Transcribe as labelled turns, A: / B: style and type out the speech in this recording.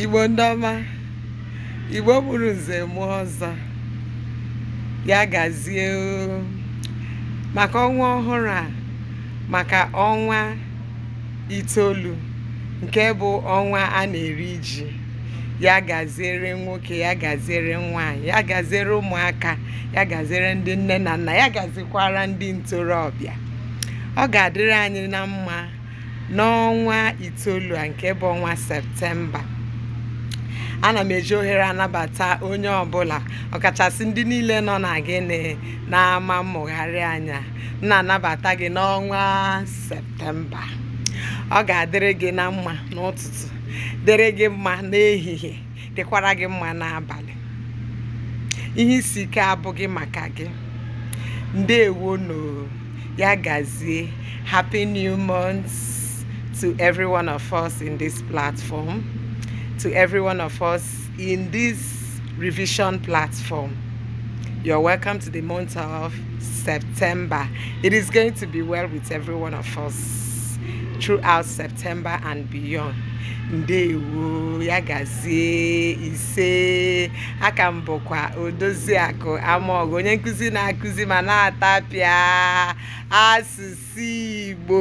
A: igbo ndị ọma igbo mụrụ nze mụọ ọzọ ya gazie maka ọnwa ọhụrụ a maka ọnwa itoolu nke bụ ọnwa a na-eri ji ya gaziere nwoke ya gaziere nwaanyị ya gaziere ụmụaka ya gaziere ndị nne na nna ya gazikwara ndị ntorobịa ọ ga-adịrị anyị na mma n'ọnwa itoolu a nke bụ ọnwa septemba ana m eji ohere a anabata onye ọbụla ọkachasị ndị niile nọ na gịnị n'ama mmụgharị anyị a m na-anabata gị n'ọnwa septemba mba ọ ga-adịrị gị na mma n'ụtụtụ dịrị gị mma n'ehihie dịkwara gị mma n'abalị ihe isi ike abụghị maka gị ndewo nụ ya gazie happy new month to every one of us in this platform to every one of us in this revision platform you're welcome to the month of September. It is going to be well with every one of us throughout September and beyond. ndewo ya gazie ise aka m bụkwa odoziakụ amaọgụ onye nkụzi na-akụzi ma na-atapịa asụsụ igbo